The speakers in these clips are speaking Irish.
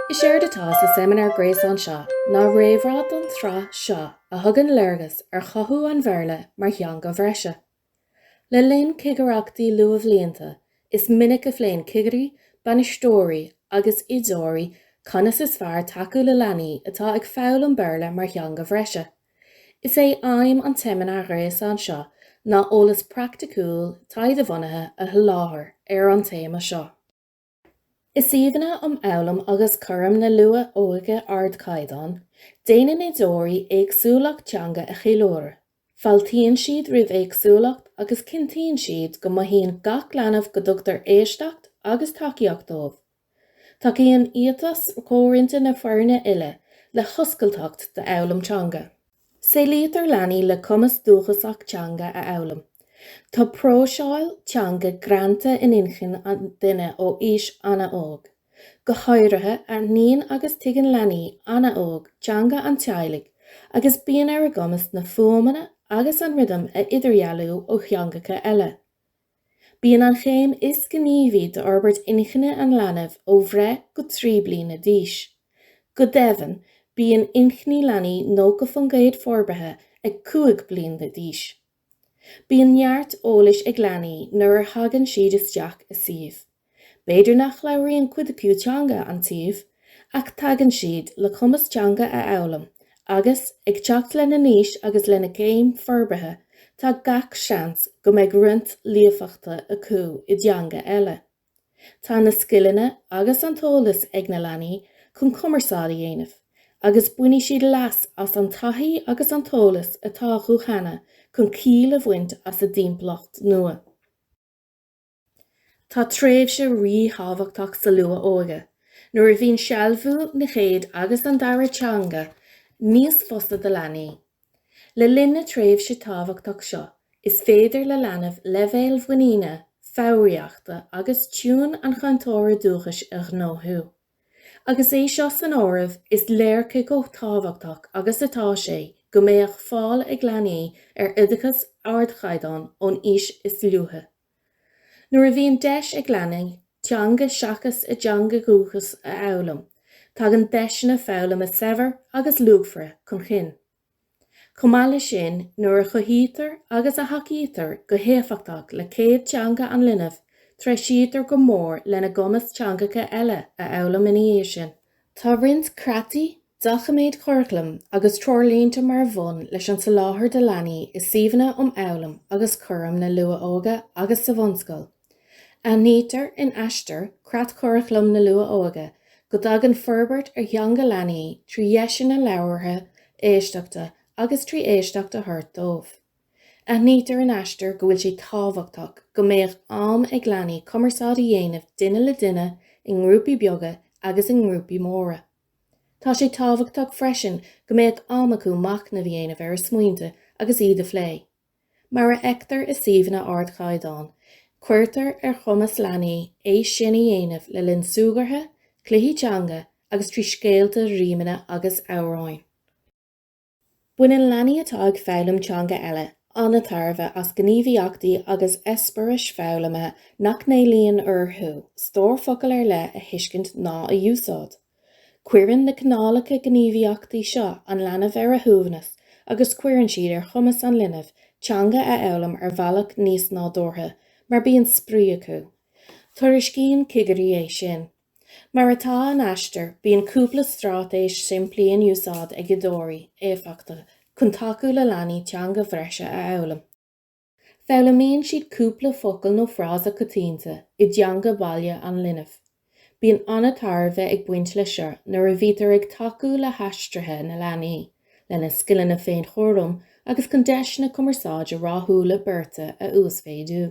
Is éard atá sa seimineár gréasáin seo ná réamhrá don tsraith seo a thugann léargas ar chothú an Bhéarla mar theanga bhreise. Le linn cigireachtaí luathbhlianta, is minic a phléann cigirí, bainisteoirí agus oideoirí conas is fearr tacú le leanaí atá ag foghlaim Béarla mar theanga bhreise, Is é aidhm an tseimineáir ghréasáin seo ná eolas praiticiúil taighdebhunaithe a sholáthar ar an téama seo. I suíomhanna um fhoghlaim agus cúram na luath-óige ardchaighdeáin, déanann oideoirí éagsúlacht teanga a cheiliúradh, fáiltíonn siad roimh éagsúlacht agus cinntíonn siad go mothaíonn gach leanbh go dtugtar éisteacht agus tacaíocht dóibh. Tacaíonn éiteas comhroinnte na foirne uile le hoscailteacht d'fhoghlaim teanga. Saolaítear leanaí le cumas dúchasach teanga a fhoghlaim. Tá próiseáil teanga greanta in inchinn an duine ó aois an-óg. Go háirithe, aithníonn agus tuigeann leanaí an-óg teanga an teaghlaigh agus bíonn ar a gcumas na fuaimeanna agus an rithim a idirdhealú ó theangacha eile. Bíonn an chéim is gníomhaí d'fhorbairt inchinne an leanbh ó bhreith go trí bliana d'aois. Go deimhin, bíonn inchinní leanaí 90 faoin gcéad forbartha ag cúig bliana d'aois. Bíonn neart eolais ag leanaí nuair a thagann siad isteach i suíomh. B'fhéidir nach labhraíonn cuid acu teanga an tsuímh, ach tagann siad le cumas teanga a fhoghlaim agus, ag teacht lena n-aois agus lena gcéim forbartha, tá gach seans go mbeidh roinnt líofachta acu i dteanga eile. Tá na scileanna agus an t-eolas ag na leanaí chun cumarsáid a dhéanamh agus bainfidh siad leas as an taithí agus an t-eolas atá acu cheana chun ciall a bhaint as a dtimpeallacht nua. Tá tréimhse ríthábhachtach sa luath-óige, nuair a bhíonn sealbhú na chéad agus an dara teanga níos fusa do leanaí. Le linn na tréimhse tábhachtach seo, is féidir le leanbh leibhéal muiníne, foghraíochta agus tiúin an chainteora dúchais a ghnóthú. Agus é seo san áireamh, is léir cé chomh tábhachtach agus atá sé go mbeadh fáil ag leanaí ar oideachas ardchaighdeáin ón aois is luaithe. Nuair a bhíonn deis ag leanaí teanga seachas a dteanga dhúchais a fhoghlaim, tagann deiseanna foghlama saibhre agus luachmhara chun cinn. Chomh maith leis sin, nuair a chothaítear agus a thacaítear go héifeachtach le céad teanga an linbh, treisítear go mór lena gcumas teangacha eile a fhoghlaim ina dhiaidh sin. Tá roinnt creataí, doiciméid churaclaim agus treoirlínte mar bhonn leis an soláthar do leanaí i suíomhanna um fhoghlaim agus chúram na luath-óige agus sa bhunscoil. Aithnítear in Aistear, Creatchuraclam na Luath-Óige go dtagann forbairt ar theanga leanaí trí dheiseanna labhartha, éisteachta agus trí éisteacht a thabhairt dóibh. Aithnítear in Aistear go bhfuil sé tábhachtach go mbeadh am ag leanaí cumarsáid a dhéanamh duine le duine, i ngrúpaí beaga agus i ngrúpaí móra. Tá sé tábhachtach freisin go mbeadh am acu machnamh a dhéanamh ar a smaointe agus iad a phlé. Mar a fheictear i suíomhanna ardchaighdeáin, cuirtear ar chumas leanaí é sin a dhéanamh le linn súgartha, cluichí teanga agus trí scéalta, rímeanna agus amhráin. Baineann leanaí atá ag foghlaim teanga eile an-tairbhe as gníomhaíochtaí agus eispéiris foghlamtha nach n-éilíonn orthu stór focal ar leith a thuiscint ná a úsáid. Cuireann na cineálacha gníomhaíochtaí seo an leanbh ar a shuaimhneas agus cuireann siad ar chumas an linbh teanga a fhoghlaim ar bhealach níos nádúrtha mar bíonn spraoi acu. Tuairiscíonn cigirí é sin. Mar atá in Aistear, bíonn cúpla straitéis simplí in úsáid ag oideoirí éifeachtacha chun tacú le leanaí teanga bhreise a fhoghlaim. Foghlaimíonn siad cúpla focal nó frása coitianta i dteanga baile an linbh. Bíonn an-tairbhe ag baint leis seo nuair a bhítear ag tacú le haistrithe na leanaí, lena scileanna féinchúraim agus chun deiseanna cumarsáide rathúla beirte a uasmhéadú.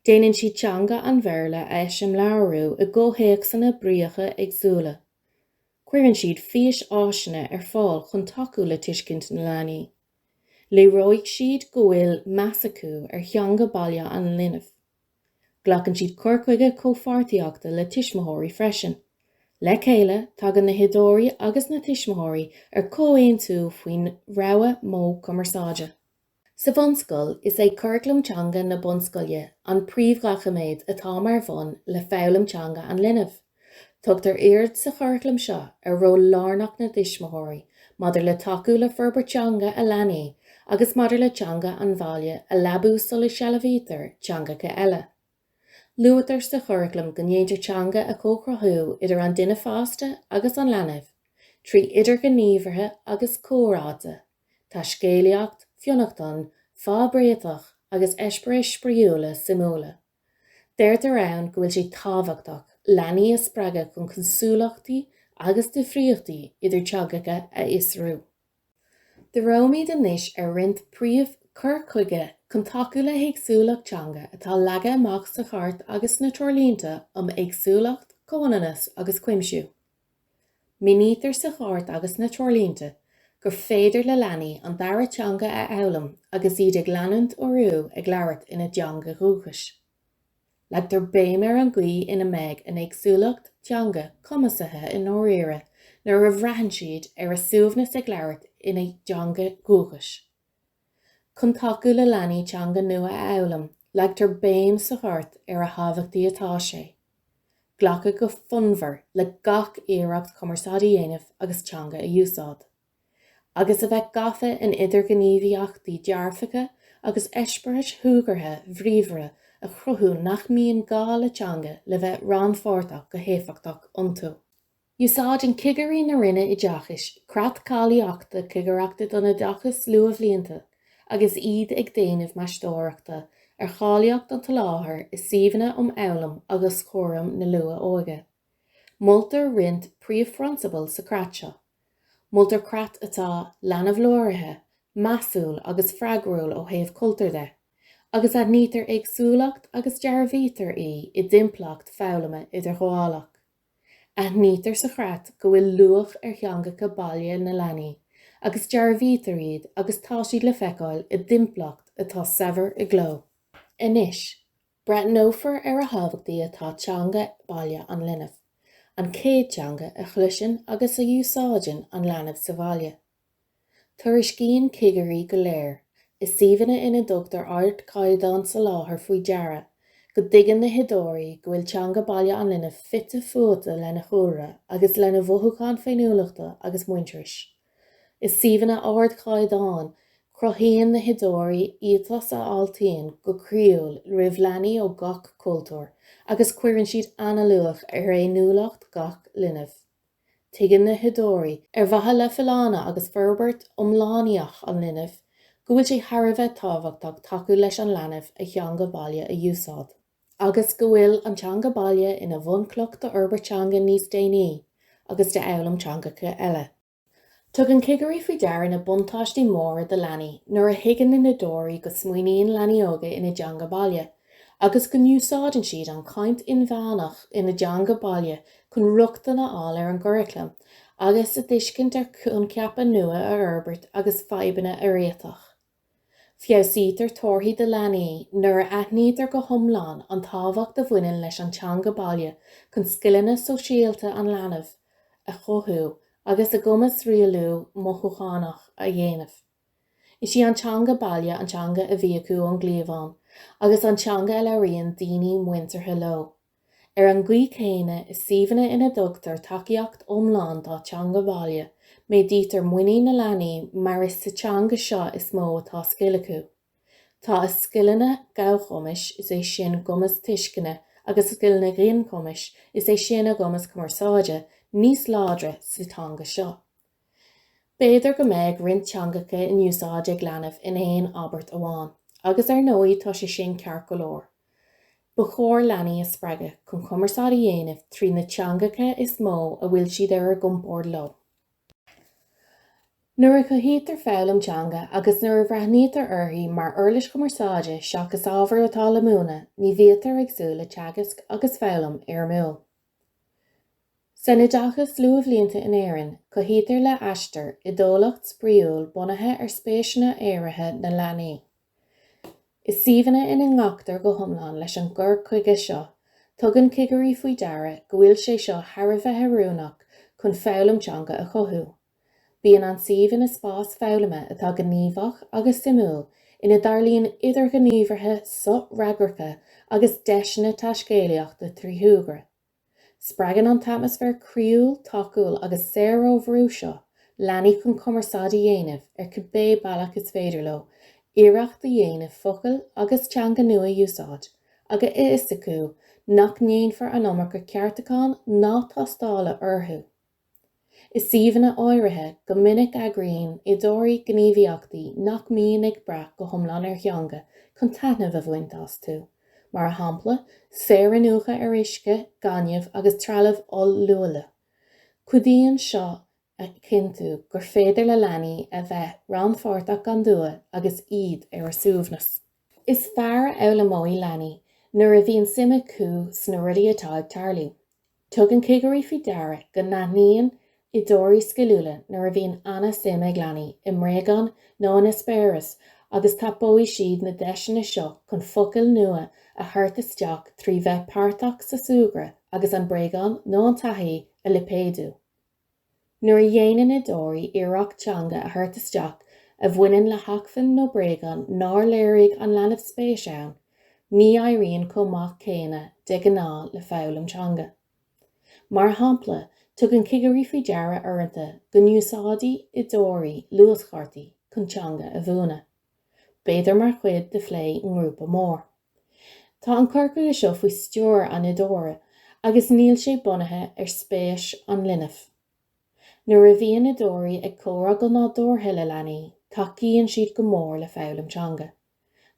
Déanann siad teanga an Bhéarla a eiseamláiriú i gcomhthéacsanna bríocha éagsúla. Cuireann siad físáiseanna ar fáil chun tacú le tuiscint na leanaí. Léireoidh siad go bhfuil meas acu ar theanga baile an linbh. Glacann siad cur chuige comhpháirtíochta le tuismitheoirí freisin. Le chéile, tagann na hoideoirí agus na tuismitheoirí ar chomhaontú faoin rogha modh cumarsáide. Sa bhunscoil, is é Curaclam Teanga na Bunscoile an príomhdhoiciméad atá mar bhonn le foghlaim teanga an linbh. Tugtar aird sa churaclam seo ar ról lárnach na dtuismitheoirí maidir le tacú le forbairt teanga a leanaí agus maidir le teanga an bhaile a leabú sula sealbhaítear teangacha eile. Luaitear sa churaclam go ndéantar teanga a chomhchruthú idir an duine fásta agus an leanbh trí idirghníomhartha agus comhráite, taiscéalaíocht, fionnachtain, fadhbréiteach agus eispéiris spraíúla suimiúla. Deirtear ann go bhfuil sé tábhachtach leanaí a spreagadh chun cosúlachtaí agus difríochtaí idir teangacha a fhiosrú. Díreoimid anois ar roinnt príomh cur chuige chun tacú le héagsúlacht teanga atá leagtha amach sa Chairt agus sna Treoirlínte um Éagsúlacht, Comhionannas agus Cuimsiú. Mínítear sa Chairt agus sna Treoirlínte gur féidir le leanaí an dara teanga a fhoghlaim agus iad ag leanúint orthu ag labhairt ina dteanga dhúchais. Leagtar béim ar an gcaoi ina mbeidh an éagsúlacht teanga cumasaithe i ndáiríre nuair a bhraitheann siad ar a suaimhneas ag labhairt ina dteanga dhúchais. Chun tacú le leanaí teanga nua a fhoghlaim, leagtar béim sa Chairt ar a thábhachtaí atá sé glacadh go fonnmhar le gach iarracht cumarsáid a dhéanamh agus teanga a úsáid, agus a bheith gafa in idirghníomhaíochtaí dearfacha agus eispéiris shúgartha bhríomhara a chruthú nach mbíonn gá le teanga le bheith rannpháirteach go héifeachtach iontu. Úsáideann cigirí na Roinne Oideachais creat cáilíochta cigireachta don oideachas luathbhlianta agus iad ag déanamh meastóireachta ar cháilíocht an tsoláthair i suíomhanna um fhoghlaim agus chúram na luath-óige. Moltar roinnt príomhphrionsabal sa chreat seo. Moltar creat atá leanbh-láraithe, measúil agus freagrúil ó thaobh cultúir de, agus aithnítear éagsúlacht agus dearbhaítear í i dtimpeallacht foghlama idirghabhálach. Aithnítear sa chreat go bhfuil luach ar theangacha baile na leanaí agus dearbhaítear iad agus tá siad le feiceáil i dtimpeallacht atá saibhir i gcló. Anois, breathnófar ar a thábhachtaí atá teanga baile an linbh, an chéad teanga a chloiseann agus a úsáideann an leanbh sa bhaile. Tuairiscíonn cigirí go léir, i suíomhanna ina dtugtar ardchaighdeán soláthair faoi deara, go dtuigeann na hoideoirí go bhfuil teanga baile an linbh fite fuaite lena chúlra agus lena mhothúcháin féiniúlachta agus muintearais. I suíomhanna ardchaighdeáin, cruthaíonn na hoideoirí éiteas a fháiltíonn go croíúil roimh leanaí ó gach cultúr agus cuireann siad an-luach ar fhéiniúlacht gach linbh. Tuigeann na hoideoirí, ar mhaithe le folláine agus forbairt iomlánaíoch an linbh, go bhfuil sé thar a bheith tábhachtach tacú leis an leanbh a theanga baile a úsáid, agus go bhfuil an teanga baile ina bhunchloch d'fhorbairt teanga níos déanaí agus d'fhoghlaim teangacha eile. Tugann cigirí faoi deara na buntáistí móra do leanaí nuair a thuigeann na hoideoirí go smaoiníonn leanaí óga ina dteanga baile agus go n-úsáideann siad an chaint inmheánach ina dteanga baile chun rochtain a fháil ar an gcuraclam agus a dtuiscint ar choincheapa nua a fhorbairt agus fadhbanna a réiteach. Feabhsaítear torthaí do leanaí nuair a aithnítear go hiomlán an tábhacht a bhaineann leis an teanga baile chun scileanna sóisialta an leanbh a chothú agus a gcumas rialú mothúchánach a dhéanamh. Is í an teanga baile an teanga a bhí acu ón gcliabhán agus an teanga a labhraíonn daoine muinteartha leo. Ar an gcaoi chéanna, i suíomhanna ina dtugtar tacaíocht iomlán dá teanga bhaile, méadaítear muinín na leanaí mar is sa teanga seo is mó atá scil acu. Tá a scileanna gabhchumais, is é sin, a gcumas tuisceana, agus a scileanna ginchumais, is é sin, a gcumas cumarsáide, níos láidre sa teanga seo. B'fhéidir go mbeidh roinnt teangacha in úsáid ag leanbh in aon abairt amháin, agus ar ndóigh tá sé sin ceart go leor. Ba chóir leanaí a spreagadh chun cumarsáid a dhéanamh trí na teangacha is mó a bhfuil siad ar a gcompord leo. Nuair a chothaítear foghlaim teanga agus nuair a bhreathnaítear uirthi mar uirlis chumarsáide seachas ábhar atá le múineadh, ní bhíotar ag súil le teagasc agus foghlaim fhoirmiúil. San oideachas luathbhlianta in Éirinn, cothaítear le Aistear oideolaíocht spraíúil bunaithe ar spéiseanna áirithe na leanaí. I suíomhanna ina nglactar go hiomlán leis an gcur chuige seo, tugann cigirí faoi deara go bhfuil sé seo thar a bheith oiriúnach chun foghlaim teanga a chothú. Bíonn an suíomh ina spás foghlama atá gníomhach agus suimiúil ina dtarlaíonn idirghníomhartha sofhreagracha agus deiseanna taiscéalaíochta trí shúgradh. Spreagann an t-atmaisféar croíúil, tacúil agus saor ó bhrú seo leanaí chun cumarsáid a dhéanamh ar cibé bealach is féidir leo, iarracht a dhéanamh focail agus teanga nua a úsáid, agus a fhios acu nach ndéanfar an iomarca ceartúcháin ná tástála orthu. I suíomhanna áirithe, go minic eagraíonn oideoirí gníomhaíochtaí nach mbíonn ag brath go hiomlán ar theanga chun taitneamh a bhaint astu, mar a shampla, saoriniúchadh ar uisce, gaineamh agus trealamh oll-luaile. Cuidíonn seo a chinntiú gur féidir le leanaí a bheith rannpháirteach gan dua agus iad ar a suaimhneas. Is fearr a fhoghlaimeoidh leanaí nuair a bhíonn suim acu sna rudaí atá ag tarlú. Tugann cigirí faoi deara go n-aithníonn oideoirí sciliúla nuair a bhíonn an-suim ag leanaí i mbréagán nó in eispéireas agus tapóidh siad na deiseanna seo chun focail nua a thabhairt isteach trí bheith páirteach sa súgradh agus an bréagán nó an taithí a lipéadú. Nuair a dhéanann oideoirí iarracht teanga a thabhairt isteach a bhaineann le hacmhainn nó bréagán nár léirigh an leanbh spéis ann, ní éiríonn chomh maith céanna de ghnáth le foghlaim teanga. Mar shampla, tugann cigirí faoi deara uaireanta go n-úsáideadh oideoirí luaschártaí chun teanga a mhúineadh. b'fhéidir mar chuid de phlé i ngrúpa mór. Tá an cur chuige seo faoi stiúir an oideora agus níl sé bunaithe ar spéis an linbh. Nuair a bhíonn oideoirí ag comhrá go nádúrtha le leanaí, tacaíonn siad go mór le foghlaim teanga.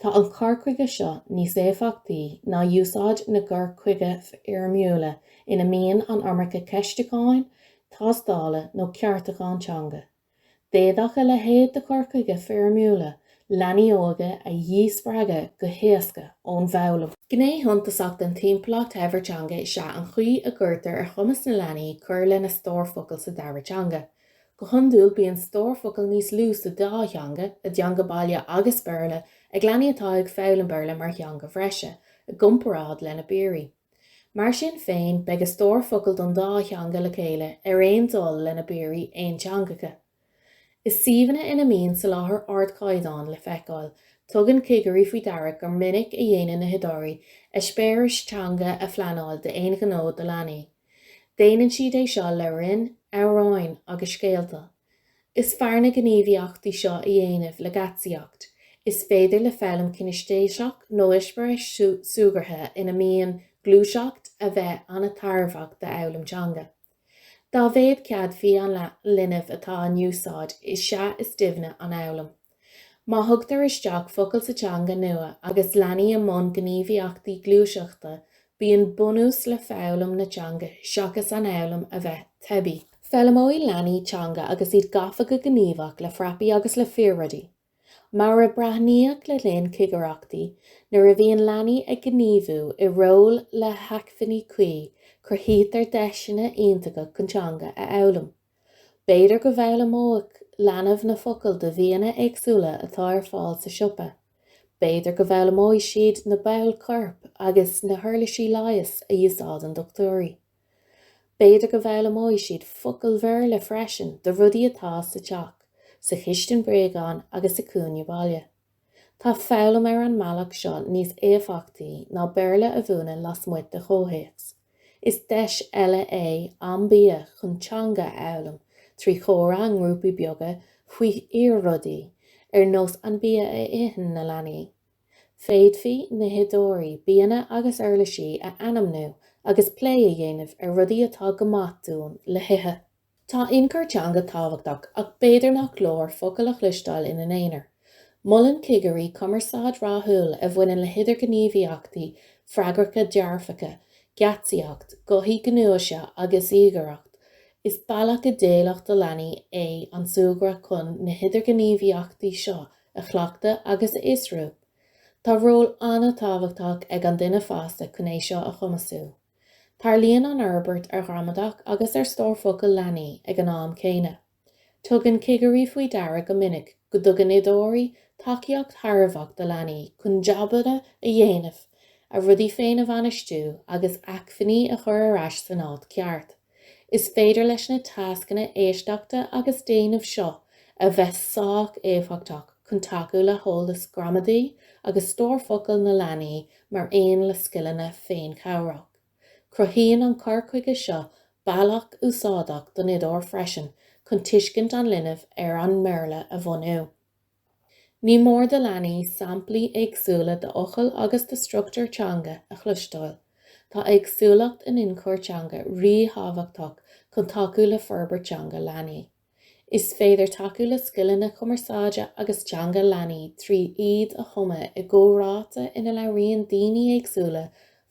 Tá an cur chuige seo níos éifeachtaí ná úsáid na gcur chuige foirmiúla ina mbíonn an iomarca ceistiúcháin, tástála nó ceartúchán teanga. D'fhéadfadh a leithéid de chur chuige foirmiúla leanaí óga a dhíspreagadh go héasca ón bhfoghlaim. Gné shuntasach den timpeallacht shaibhir teanga is ea an chaoi a gcuirtear ar chumas na leanaí cur lena stór focal sa dara teanga. Go hiondúil bíonn stór focal níos lú sa dá theanga, a dteanga baile agus Béarla, ag leanaí atá ag foghlaim Béarla mar theanga bhreise, i gcomparáid lena bpiaraí. Mar sin féin, beidh a stór focal don dá theanga le chéile ar aon dul lena bpiaraí aonteangacha. I suíomhanna ina mbíonn soláthar ardchaighdeáin le feiceáil, tugann cigirí faoi deara gur minic a dhéanann na hoideoirí eispéiris teanga a phleanáil d'aon ghnó do leanaí. Déanann siad é seo le rainn, amhráín agus scéalta. Is fearr na gníomhaíochtaí seo a dhéanamh le geáitsíocht. Is féidir le foghlaim cinistéiseach nó eispéireas súgartha ina mbíonn gluaiseacht a bheith an-tairbheach d'fhoghlaim teanga. Dá mhéad céadfaí an linbh atá in úsáid is ea is doimhne an fhoghlaim. Má thugtar isteach focail sa teanga nua agus leanaí i mbun gníomhaíochtaí gluaiseachta, bíonn bunús le foghlaim na teanga seachas an fhoghlaim a bheith teibí. Foghlaimeoidh leanaí teanga agus iad gafa go gníomhach le frapaí agus le fíor-rudaí. Mar a breathnaíodh le linn cigireachtaí, nuair a bhíonn leanaí ag gníomhú i ról le hacmhainní cuí, cruthaítear deiseanna iontacha chun teanga a fhoghlaim. B'fhéidir go bhfoghlaimeodh leanbh na focail de bhianna éagsúla atá ar fáil sa siopa. B'fhéidir go bhfoghlaimeoidh siad na baill choirp agus na huirlisí leighis a úsáideann dochtúirí. B'fhéidir go bhfoghlaimeoidh siad focail Bhéarla freisin do rudaí atá sa teach, sa chistin bréagán agus sa chúinne baile. Tá foghlaim ar an mbealach seo níos éifeachtaí ná Béarla a mhúineadh lasmuigh de chomhthéacs. Is deis eile é Am Bia chun teanga a fhoghlaim trí chomhrá i ngrúpaí beaga faoi fhíor-rudaí, ar nós an bia a itheann na leanaí. Féadfaidh na hoideoirí bianna agus uirlisí a ainmniú agus plé a dhéanamh ar rudaí atá go maith dúinn le hithe. Tá ionchur teanga tábhachtach ach b'fhéidir nach leor focail a chloisteáil ina n-aonar. Molann cigirí cumarsáid rathúil a bhaineann le hidirghníomhaíochtaí freagracha dearfacha, geáitsíocht, gothaí gnúise agus íogaireacht, is bealach idéalach do leanaí é an súgradh chun na hidirghníomhaíochtaí seo a chleachtadh agus a fhiosrú. Tá ról an-tábhachtach ag an duine fásta chun é seo a chumasú. Tarlaíonn an fhorbairt ar ghramadach agus ar stór focal leanaí ag an am céanna. Tugann cigirí faoi deara go minic go dtugann oideoirí tacaíocht thairbheach do leanaí chun jabanna a dhéanamh, a rudaí féin a bhainistiú agus acmhainní a chur ar ais san áit cheart. Is féidir leis na tascanna éisteachta agus déanaimh seo a bheith sách éifeachtach chun tacú le heolas gramadaí agus stór focal na leanaí mar aon le scileanna féinchabhrach. Cruthaíonn an cur chuige seo bealach úsáideach don oideoir freisin chun tuiscint an linbh ar an mBéarla a bhunú. Ní mór do leanaí samplaí éagsúla d'fhocail agus de struchtúir teanga a chloisteáil. Tá éagsúlacht in ionchur teanga ríthábhachtach chun tacú le forbairt teanga leanaí. Is féidir tacú le scileanna cumarsáide agus teanga leanaí trí iad a thumadh i gcomhráite ina labhraíonn daoine éagsúla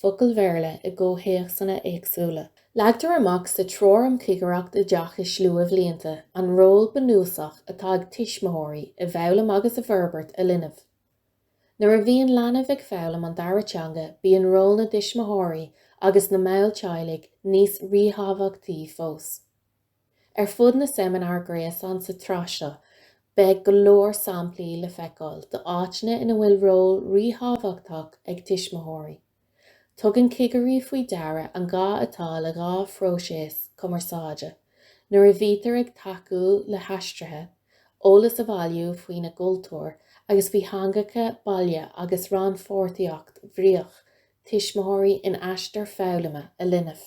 focail Bhéarla i gcomhthéacsanna éagsúla. Leagtar amach sa Treoir um Chigireacht Oideachais Luathbhlianta an ról bunúsach atá ag tuismitheoirí i bhfoghlaim agus i bhforbairt a linbh. Nuair a bhíonn leanbh ag foghlaim an dara teanga bíonn ról na dtuismitheoirí agus na mball teaghlaigh níos ríthábhachtaí fós. Ar fud na seimineár gréasáin sa tsraith seo beidh go leor samplaí le feiceáil d'áiteanna ina bhfuil ról ríthábhachtach ag tuismitheoirí. Tugann cigirí faoi deara an gá atá le dhá phróiseas cumarsáide nuair a bhítear ag tacú le haistrithe, eolas a bhailiú faoina gcultúr agus faoi theangacha baile agus rannpháirtíocht bhríoch tuismitheoirí in aistear foghlama a linbh.